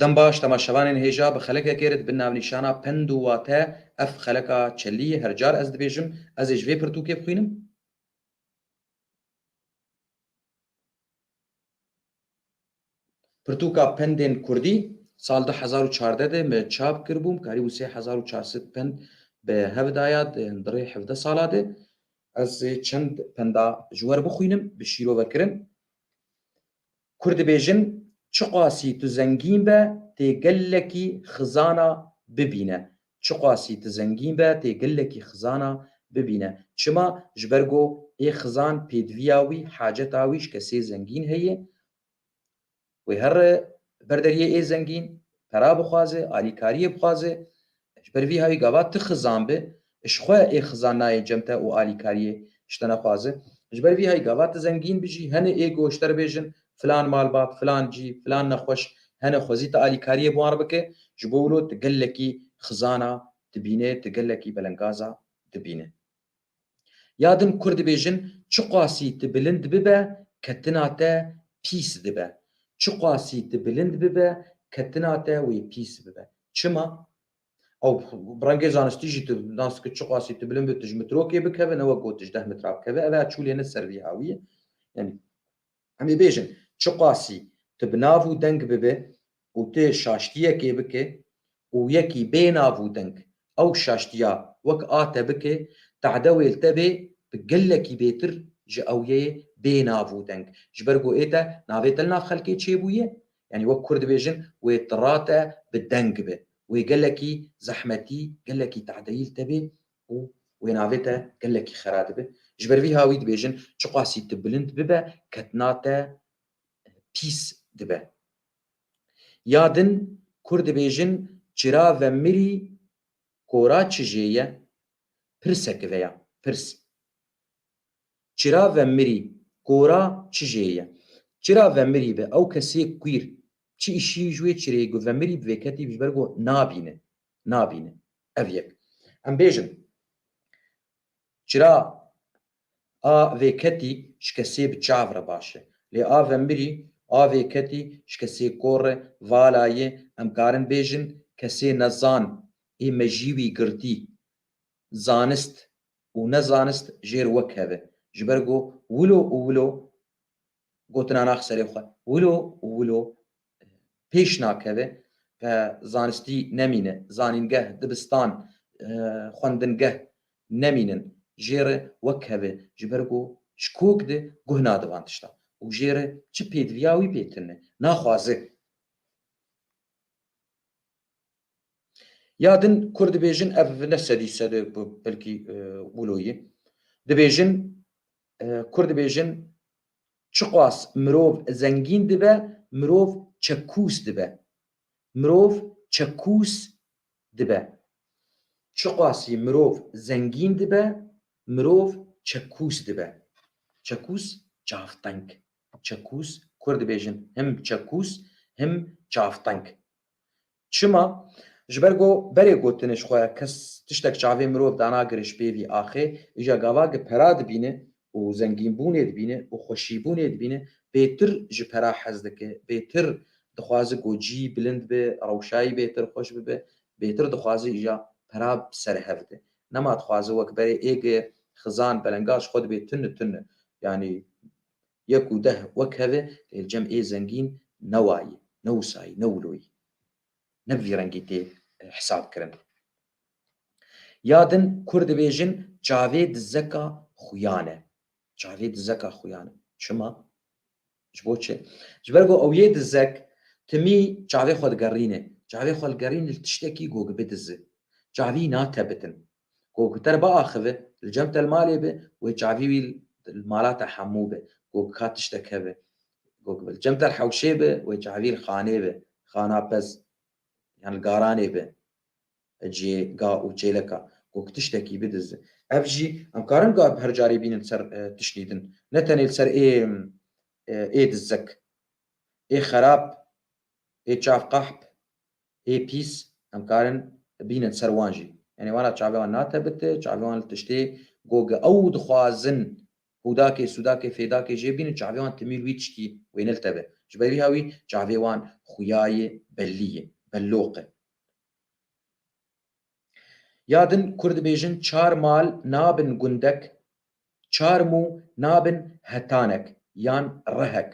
Dembaş dema şevanên hêja bi xelekekê re dibin navnîşana pend û wate, ev xeleka çelî ye, her car ez dibêjim, ez ê ji vê pirtûkê bixwînim. Pirtûka pendên kurdî sal du hezar û çardeh de me çap kiribûm, karîbû sê hezar û çar sed pend bi hev da ya di rê hevdeh sala de. Ez ê çend penda ji we re bixwînim, bi şîrove kirin. Kur dibêjin, Çiqasî tu zengîn be tê gelekî xizana bibîne Çiqasî tu zengîn be tê gelekî xizana bibîne Çima? Ji ber ku ê xizan pêdiviya wî, haceta wî ji kesê zengîn heye Wê her ber deriyê ê zengîn pera bixwaze, alîkariyê bixwaze Ji ber vî havî gava ti xizan bi, ji xwe ê xizan nayê cem te û alîkariyê ji te nexwaze. Ji ber vî havî gava ti zengîn bi jî, henê ego ji te re bêjin filan malbat, filan cî, filan nexweş hene xwezî ti alîkariyê bi wan re bike. Ji bo wilo ti gelekî xizana dibîne, ti gelekî belengaza dibîne. Ya din Kurd dibêjin çiqasî tu bilind bibe ketina te pîs dibe. Çiqasî tu bilind bibe ketina te wê pîs bibe. Çima? Ew bi rengê zanistî jî tu nas ki çiqasî tu bilind bibe tu ji mitrokê bikeve ne wek got tu ji deh mitra bikeve ev her çûlê ne ser vî awiyê. Yanî Em ê bêjin, çiqasî tu bi nav û deng bibe û tu şaştiyekê bike û yekî bê nav û deng ew şaştiya wek a te bike, tade wê li te bê bi gelekî bêtir ji ewyeyê bê nav û deng. Ji ber ku ê te navê te li nav xelkê çêbûye, yanî wek kur dibêjin wê tira te bi deng be. Wê gelekî zehmetî, gelekî tadeyî li te bê ku wê navê te gelekî xera dibe. Ji ber vî ha wî dibêjin çiqasî tu bilind bibe ketina te pîs dibe. Ya din Kurd dibêjin çira ve mirî kora çi jê ye pirse ki veya pirs. Çira ve mirî kora çi jê ye. Çira ve mirî bi ew kesê kwîr çi îşî ji wê çirê ku ve mirî bi vê ketî bi ji ber ku nabîne. nabîne. Ev yek. Em bêjin çira a vê ketî ji kesê bi çav re baş e. Lê a ve mirî, a vê ketî ji kesê kor re vala ye, em karin bêjin kesê nezan ê mejî wî girtî. Zanist û nezanist jêr wek hev e. Ji ber ku wilo û wilo gotina nax serê xwe. Wilo û wilo pêş nakeve ke zanistî nemîne, zanîngeh, dibistan, xwendingeh nemînin jê re wek keve ji ber ku ji kok de guh nade van tiştan û jê re çi pêdiviya wî pê tune naxwaze. Ya din kurd dibêjin ev ne sedî sede belkî wilo ye. Dibêjin Kurd dibêjin çiqas mirov zengîn dibe mirov çekûs dibe. Mirov çekûs dibe. Çiqasî mirov zengîn dibe mirov çekûs dibe. Çekûs çavteng. Çekûs Kurd dibêjin him çekûs him çavteng. Çima? Ji ber ku berê gotinê ji xwe ya kes tiştek çavê mirov danagire ji pêvî axê îja gavagê pera dibîne û zengînbûnê dibîne û xweşîbûnê dibîne bêtir ji pera hez dike, bêtir dixwaze ku cî bilind be, rewşayî bêtir xweş bibe, bêtir dixwaze îja pera bi ser hev de. Nema dixwaze wek berê êgeye xizan, belengaz ji xwe dibê tune tune. Yanî Yek û deh wek heve lê cem ê zengîn ne wa yî, ne wisa yî, ne wilo yî. Ne bi vî rengî tê hesab kirin. Ya din kurd dibêjin çavê dizeka xuyan e. Çavê dizeka xuyan e. Çima? Ji bo çi? Ji ber ku ew yê dizek timî çavê xwe digerîne. Çavê xwe digerîne li tiştekî gogi bidizi. Çavî natebitin. Ku kuter biaxive, li cem te li malê be, wê çavî wî li mala te hemû be, ku ka tiştek hebe. Ku li cem te li hewşê be, wê çavî li xanê be, xana pez, yan li garanê be, cihê ga û çêleka, ku tiştekî bidize. Ev jî em karin ga bi her carê bînin li ser tiştî din, ne tenê li ser ê dizek, ê xerab, ê çav qehp, Hê pîs em karin bînin ser wan jî. Yanî wan ra çavê wan natebite, çavê wan li tiştê ku ew dixwazin hûdakê, sûdakê, fêdakê jê bînin çavê wan timî li wî tiştî wê niltebe. Ji ber vî hawî çavê wan xuyayê bellî ye, belloq e. Ya din kurd dibêjin çar mal nabin gundek, çar mû nabin hetanek yan rehek.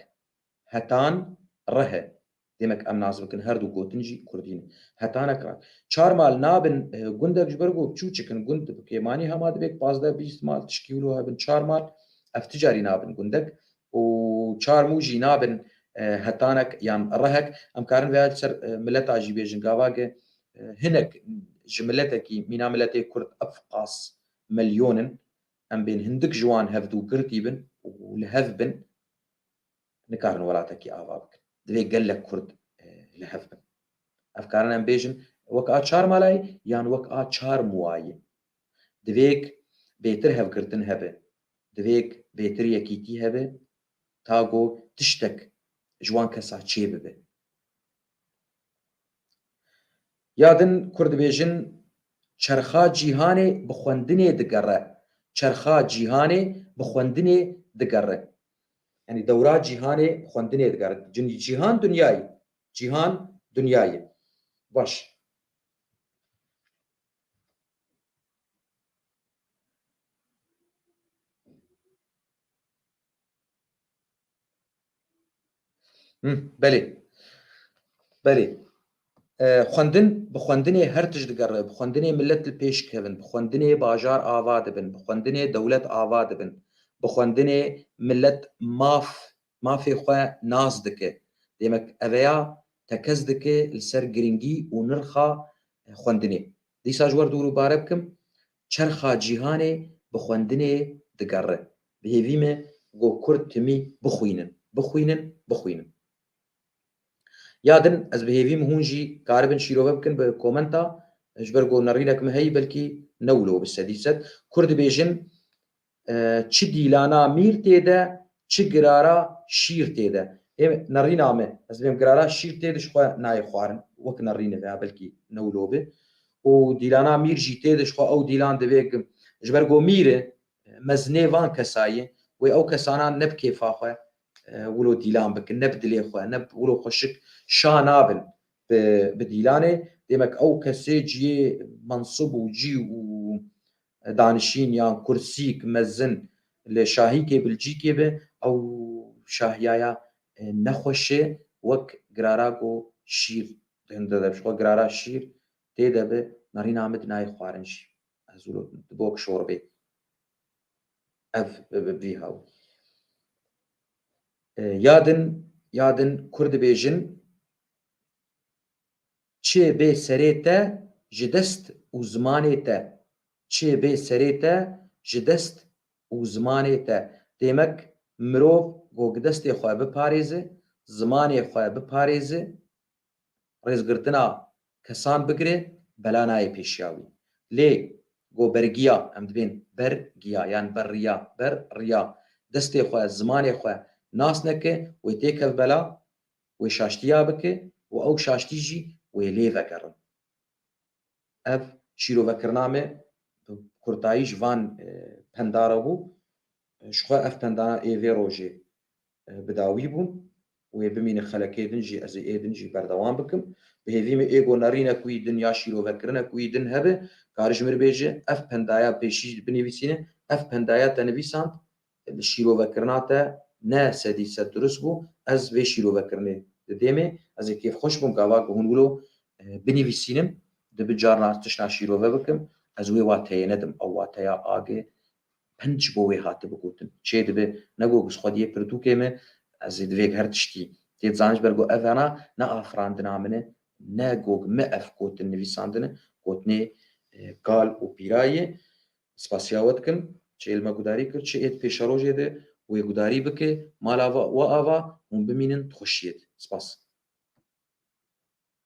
Hetan, Rihe, demek em nas bikin her du gotin jî kurdî ne. Hetanek, Rihe. Çar mal nabin gundek ji ber ku biçûçik in. Gund bi kêmanî hema divêk pazdeh bîst mal tişkî wilo hebin. Çar mal ev ti carî nabin gundek û çar mû jî nabin hetanek yan rihek. Em karin vêya li ser mileta jî bêjin gavage hinek ji miletekî mîna miletê kurd ef qas milyon in. Em bên hindik ji wan hev du girtî bin û li hev bin. nikarin welatekî ava bikin. Divê gelek kurd li hev bin. Ev karin em bêjin wek a çar malayê yan wek a çar muwayê. Divêk bêtir hevgirtin hebe. Divêk bêtir yekîtî hebe ta go tiştek ji wan kesa çê bibe. Ya din kurd dibêjin çerxa cîhanê bi xwendinê digere. Çerxa cîhanê bi xwendinê digere. Yanî dewra cîhanê xwendinê digere. Cîhan dinyayî. Cîhan dinyayî. Baş. Him, belê. Belê. Xwendin, bi xwendinê her tişt digere, bi xwendinê milet li pêş dikevin, bi xwendinê bajar ava dibin, bi xwendinê dewlet ava dibin, bi xwendinê milet maf, mafê xwe nas dike. Demek eveya tekez dike li ser girîngî û nirxa xwendinê. Dîsa ji wer dûr û bare bikim, çerxa cîhanê bi xwendinê digere. Bi hêvî me ku kurd timî bixwînin, bixwînin, bixwînin. Ya din ez bi hêvîm hûn jî karibin şîrove bikin bi komenta ji ber ku nerînek min heyî belkî ne wilo bi sedî sed. Kurd dibêjin çi dîlana mîr tê de çi girara şîr tê de. Hê nerîna me ez dibêm girara şîr tê de ji xwe nayê xwarin wek nerîne veya belkî ne wilo be û dîlana mîr jî tê de ji xwe ew dîlan divê ku ji ber ku mîr e mezinê van kesayê wê ew kesanan ne bi kêfa xwe wilo dîlan bikin ne bi dilê xwe ne bi wilo xweşik şa nabin bi dîlanê demek ew kesê ciyê mensûb û cî û danişîn yan kursîk mezin li şahîkê Bilcîkê be ew şahiyaya nexweşê wek girara ku şîr hinde de xwe girara şîr tê de bi narîna min nayê xwarin jî ez wilo dibok şorbê. ev bi vî haw. Ya din ya din kur dibêjin Çê bê serê te ji dest û zimanê te Çê bê serê te ji dest û zimanê te Demek mirov ku destê xwe biparêze, zimanê xwe biparêze, rêzgirtina kesan bigire bela nayê pêşiya wî. Lê go bergiya, em dibên ber giya yan ber riya, ber riya destê xwe, zimanê xwe nas neke, wê têkeve bela, wê şaştiya bike û ew şaştî jî wê lê vegerin. Ev şîrovekirina me bi kurtayî ji van penda re bû. Ji xwe ev penda na ê vê rojê Bi dawî bûm. Wê bimîne xelekê din jî ez ê ê din jî berdewam bikim. Bi hêvî min êgo nerîne ku yî din ya şîrovekirine ku yî din hebe. Kar ji min re bêje ev pendaya pêşî jî binivîsîne. Ev pendaya te nivîsand li şîrovekirina te ne sedî sed durust bû. Ez vê şîrovekirinê di dêmê ez ê kêfxweş bûm gava ku hûn wilo binivîsînim. Dibi carna ez tişta şîrove bikim. Ez wê wateyê nedim. Ew wateya age Hin ji bo wê hatibû gotin. Çê dibe, ne got bi xwediyê pirtûkê me, ez ê divêg her tiştî tê zanîn ji ber ku ev hena ne afirandina min e, ne got me ev gotin nivîsandin e, gotinê kal û pîra ye. Spasiya we dikim, çê li me gudarî kir, çê êd pêşerojê de wê gudarî bike, mala we ava, hûn bimînin di xweşiyê de. Spas.